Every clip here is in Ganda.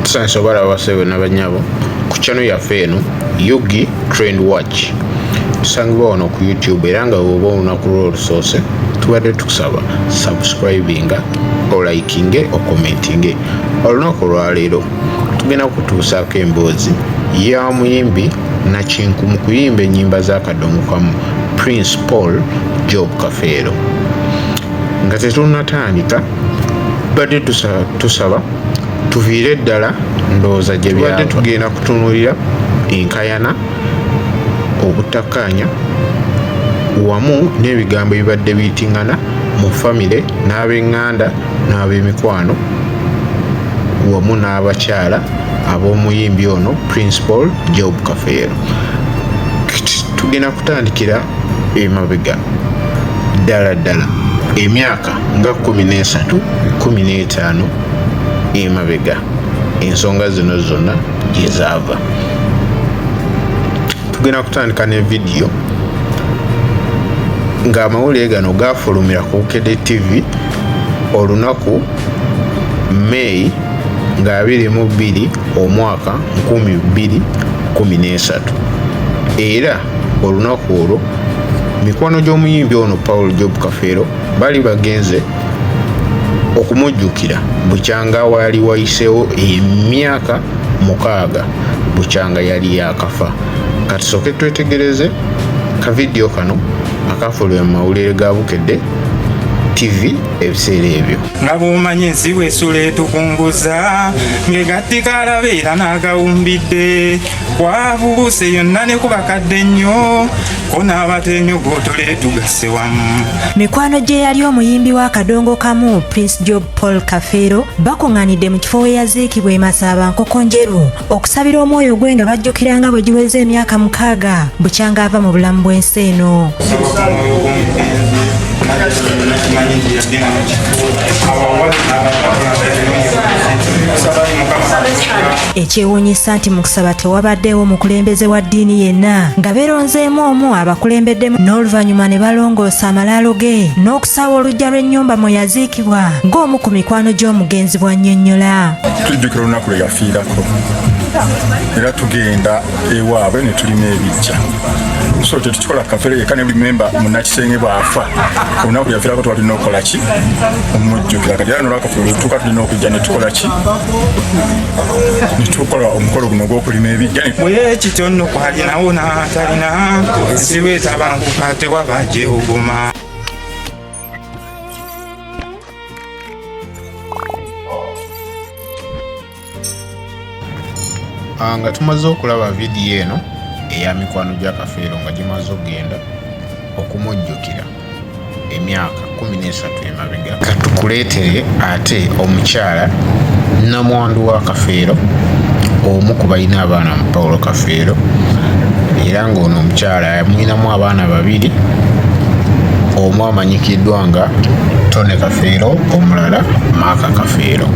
tusansobola abasebo nabanyabo ku channel yaffe eno yugi trend watch tusangibwa wano ku youtube era nga woba olunaku lwo olusoose tubadde tukusaba subscribinga olikinge okomentinge olunaku olwaleero tugenda kutuusaako emboozi ya muyimbi nakinku mu kuyimba ennyimba zakadongokamu prince paul job kafeero nga tetunatandika tubadde tusaba tuviire eddala ndowooza gye byabadde tugenda kutunulira enkayana obutakkaanya wamu n'ebigambo ebibadde biyitingana mu famire n'ab'eŋŋanda n'ab'emikwano wamu n'abakyala ab'omuyimbi ono principal job kafeero tugenda kutandikira emabega ddala ddala emyaka nga kumi n'esatu kumi n'etaano emabega ensonga zino zonna gyezaava tugenda kutandika ne vidiyo ng'amawulire gano gaafulumira ku kede tv olunaku may nga 22 omwaka 2013 era olunaku olwo mikwano gy'omuyimbi ono paul job kafeero bali bagenze okumujjukira bukyanga waali wayiseewo emyaka mukaaga bukyanga yali yakafa katusooke twetegereze ka vidiyo kano akaafulwe mu mawulire ga bukedde tv ebiseera ebyo nga bwomanyi ensi bwesula etukunguza ngegattikalabeera n'agawumbidde kwabuuse yonna ne kubakadde nnyo ko n'abateenyo gwotole tugasse wamu mikwano gye yali omuyimbi wa kadongo kamu prince job paul kafeero bakuŋŋanidde mu kifo we yaziikibwa emasaaba nkoko njeru okusabira omwoyo gwe nga bajjukira nga bwe giweza emyaka mukaaga bukyanga ava mu bulamu bw'ensi eno Ekyewuunyisa nti mu kusaba tewabaddeewo mukulembeze wa ddiini yenna nga beeronzeemu omu abakulembeddemu n'oluvannyuma ne balongoosa amalaalo ge n'okusaawa olujja lw'ennyumba mwe yaziikibwa ng'omu ku mikwano gy'omugenzi bw'annyonnyola. Tujjukira olunaku lwe yafiirako era tugenda ewaabwe ne tulima ebijja so tetukikola kafere yekka ne buli memba munakisenge bw'afa olunaku yafiirako twalina okukola ki omujjukira kati era nolwakafe olutuuka tulina okujja ne tukola ki netukola omukolo guno ogwokulima ebijja bwekityo nno kwalinawo natalina ensiba etabanguka tewaba gyewuguma ah, nga tumaze okulaba vidiyo eno eya mikwano gya kafeero nga gimaze okugenda okumujjukira emyaka kumi n'esatu emabega katukuleetere ate omukyala namwandu wa kafeero omu ku balina abaana mu paulo kafeero era ng'ono omukyala yamwinamu abaana babiri omu amanyikiddwa nga tone kafeero omulala maaka kafeero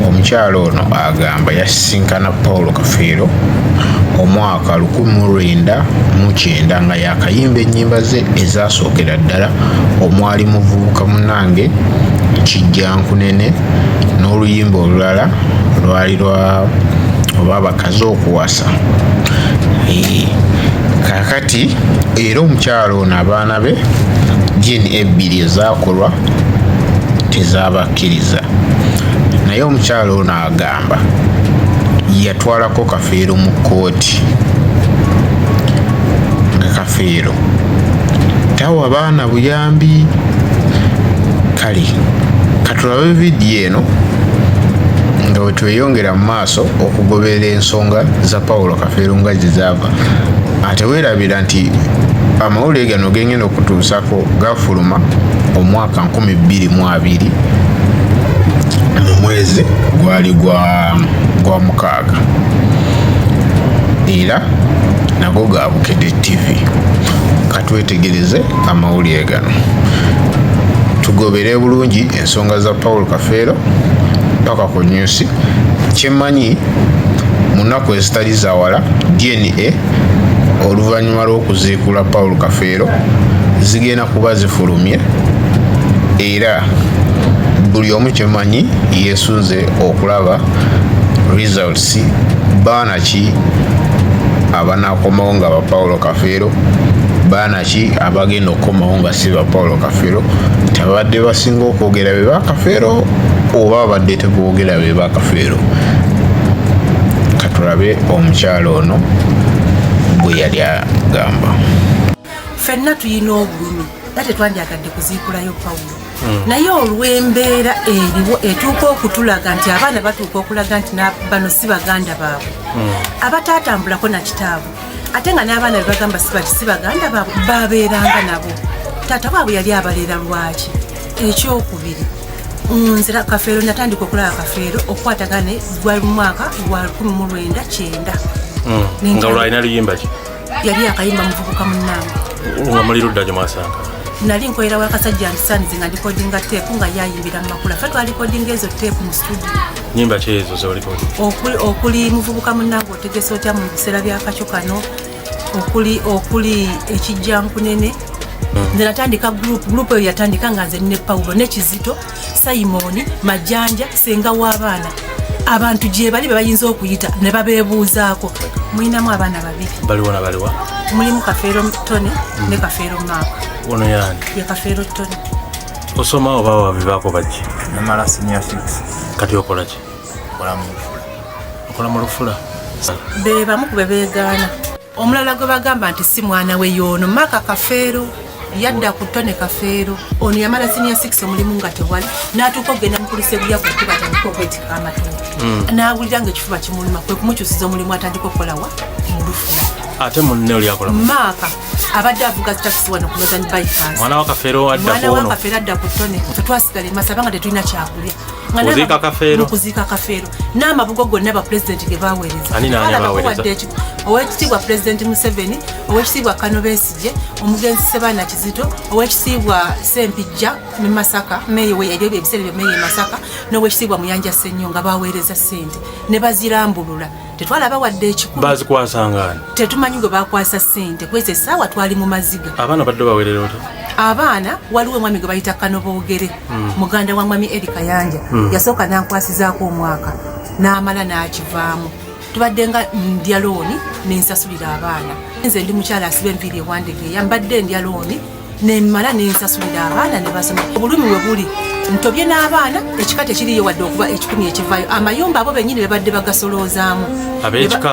omukyala ono agamba yasisinkana paulo kafeero omwaka mwaka lukumi mu lwenda mu kyenda nga yakayimba ennyimba ze ezasookera ddala omwali muvubuka munange kijjankunene n'oluyimba olulala lwali lwa oba abakazi okuwasa kakati era omukyalo ono abaana be jini ebbiri ezakolwa tezabakkiriza naye omukyalo ono aga agamba yatwalako kafeero mu kkooti nga kafeero tawa baana buyambi kale katulabe vidiyo eno nga wetweyongera mu maaso okugoberera ensonga za pawulo kafeero nga gye zaava ate weerabira nti amawulire gano gengenda okutuusako gafuluma omwaka ka nkumi bbiri mu abiri mu mwezi gwali gwa mukaaga era nago ga bukedde tv katwetegereze amawulire gano tugobere bulungi ensonga za paul kafeero paka ku nyusi kyemmanyi mu nnaku ezitali zawala dna oluvannyuma lw'okuziikula paul kafeero zigenda kuba zifulumye era buli omu kyemanyi yesunze okulaba results baana ki abanakomawo nga ba paulo kafeero baana ki abagenda okukomawo nga si ba paulo kafeero tabadde basinga okwogera be bakafeero oba abadde tebogera be bakafeero katulabe omukyalo ono bwe yali agamba fenna tuyina obulumi nga tetwandyagadde kuziikulayo pawulo hmm. naye olw'embeera eriwo etuuka okutulaga nti abaana batuuka okulaga nti bano si baganda baabwe hmm. abataatambulako na kitaabwe ate nga n'abaana bebagamba sibati si baganda baabwe babeeranga nabo taata waabwe yali abalera lwaki ekyokubiri nzira kafeero natandika okulaba kafeero okukwatagana gwali mu mwaka gwa 19 hmm. nga olwalina luyimba ki yali akayimba muvubuka munange nga muli ludda gye mwasanga nali nkolera wakasajja ndisanize nga ndikodinga teepu nga yayimbira mu makula fe twalikodinga ezo teepu mu studio nyimba ki ezo zolikodi okuli muvubuka munange otegesa otya mu biseera byakakyo kano okuli okuli ekijjankunene hmm. nze natandika group group eyo yatandika nga nze ne paulo ne kizito simoni majanja senga w'abaana abantu gyebali bebayinza okuyita ne babebuuzaako mulinamu abaana babiri baliwona baliwa mulimu kafeero tony hmm. ne kafeero maaka ono yani ye kafeero tony osoma oba wabibaako baki namala senior six kati okolaki okola mu lufula be bamu kube beegaana omulala gwe bagamba nti si mwana we yoono maka kafeero yadda ku tone kafeero ono yamala sinia 6 omulimu nga tewali n'atuuka okugenda mukulisa ebiya ku kuba tandika okwetika amatono hmm. n'awulira nga ekifuba kimuluma kwe kumukyusiza omulimu atandika okukolawa mu lufula ate munne oli akola maaka abadde avuga takisi wano ku northern bypass mwana wa kafeero adda ku tone fetwasigala emasaba nga tetulina kyakulya mukuziika kafeero mukuziika kafeero n'amabugo gonna bapulezidenti ge baweereza ani naani abaweereza owekitiibwa pulezidenti museveni owekitiibwa kano besigye omugenzi sebaana kizito owekitiibwa sempijja ne masaka meeyi we ebyo ebiseera byo meeyi e masaka n'owekitiibwa muyanja sennyo nga baweereza ssente ne bazirambulula tetwalaba wadde ekikulu bazikwasangani tetumanyi gwe bakwasa sente kwesa esaawa twali mu maziga abaana badde bawerera ota abaana waliwo omwami gwe bayita kano boogere hmm. muganda wa mwami eri kayanja hmm. yasooka nankwasizaako omwaka n'amala n'akivaamu tubadde nga ndya looni nensasulira abaana nze ndi mukyala asiba enviiri ewandegeeya mbadde ndya looni nemmala nensasulira abaana nebasoma obulumi we buli ntobye n'abaana ekika tekiriyo wadde okuba ekikumi ekivayo amayumba abo benyini bebadde bagasoloozaamu abekika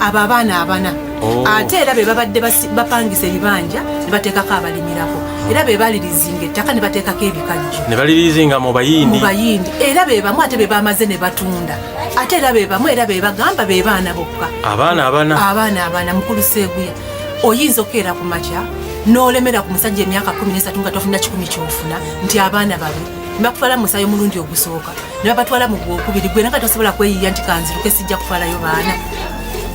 abo abaana abana oh. ate era bebabadde bapangisa ebibanja nebateekako abalimirako era bebalirizinga ettaka nebateekako ebikajjo nebalirizinga mubayindi mubayindi era bebamu ate bebamaze nebatunda ate era bebamu era bebagamba bebaana bokka abaana abana abaana abana mukulu seeguya oyinza okukeera ku makya n'olemera ku musajja emyaka kumi nesatu nga tofuna kikumi kyofuna nti abaana babe nebakufaala musayo omulundi ogusooka nebabatwala mu gwokubiri gwe naka tosobola kweyiya nti kanziruke sijja kufaalayo baana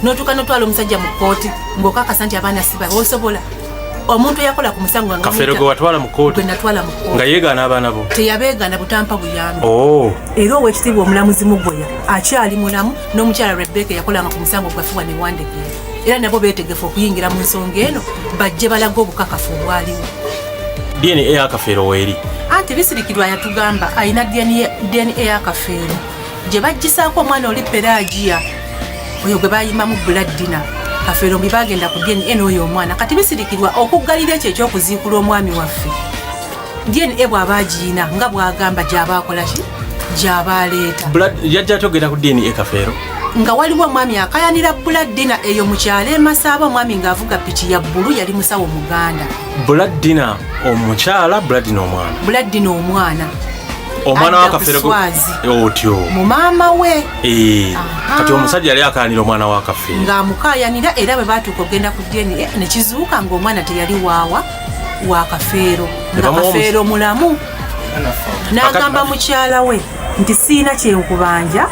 notuuka notwala omusajja mu kooti ngaokakasa nti abaana sibabe osobola omuntu eyakola ku musango kafero gwe watwala mu kooti natwala mu kooti nga yeegaana abaana bo teyabeegaana butampa buyambi oh. era owekitiibwa omulamuzi mugoya akyali mulamu n'omukyala rebeka eyakolanga ku musango gwafuwa ne wandegera era nabo beetegefu okuyingira mu nsonga eno bajje balaga obukakafu obwaliwo dna yakafeero weeri anti bisirikirwa yatugamba alina dna yakafeero gye bajjisaako omwana oli peragiya oyo gwe bayimamu buladdina kafeero mbi bagenda ku dna oyo omwana kati bisirikirwa okuggalira ekyo ekyokuziikula omwami waffe DNA bw'aba agiyina nga bw'agamba gy'aba akola ki gy'aba aleeta yajja atogera ku DNA kafeero nga waliwo omwami akayanira buladdina eyo mu kyalo emasaaba omwami ng'avuga piki ya bbulu yali musawo muganda buladdina omukyala buladdina omwana buladdina omwana omwana wakafeerewazi eh, otyo mu maama we eh, kati omusajja yali akayanira omwana wakafeere ng'amukayanira era bwe baatuuka okugenda ku dna ne kizuuka ng'omwana teyali waawa wa kafeero nga kafeero mulamu n'agamba mukyala we nti siina kyenkubanja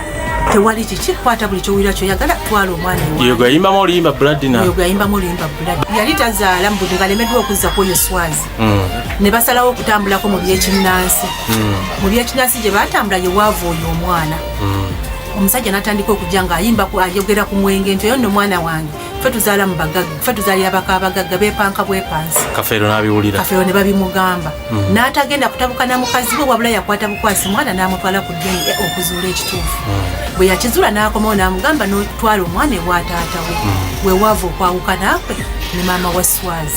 tewali kiki kwata buli kyowulira kyoyagala twala omwana yogayimbamu oluyimba bladinayogayimbamu oluyimba blad yali tazaala mubuli ngalemeddwa okuzza kwoyo swazi mm. ne basalawo okutambulako mu byekinnansi mm. mu byekinnansi gye batambula ye waava oyo omwana mm. omusajja natandika okujja ngaayimba ayogera ku mwenge nti oyo nno omwana wange fe tuzaala mu bagagga fe tuzaalira baka abagagga bepanka bwepansi kafeero n'abiwulira kafeero ne babimugamba mm. n'atagenda kutabuka na mukazi we wabula yakwata bukwasi mwana n'amutwala ku dna e okuzuula ekituufu mm. bwe yakizuula n'akomawo n'amugamba n'otwala omwana ewataata we mm. wewaava okwawukana kwe ne maama wa swazi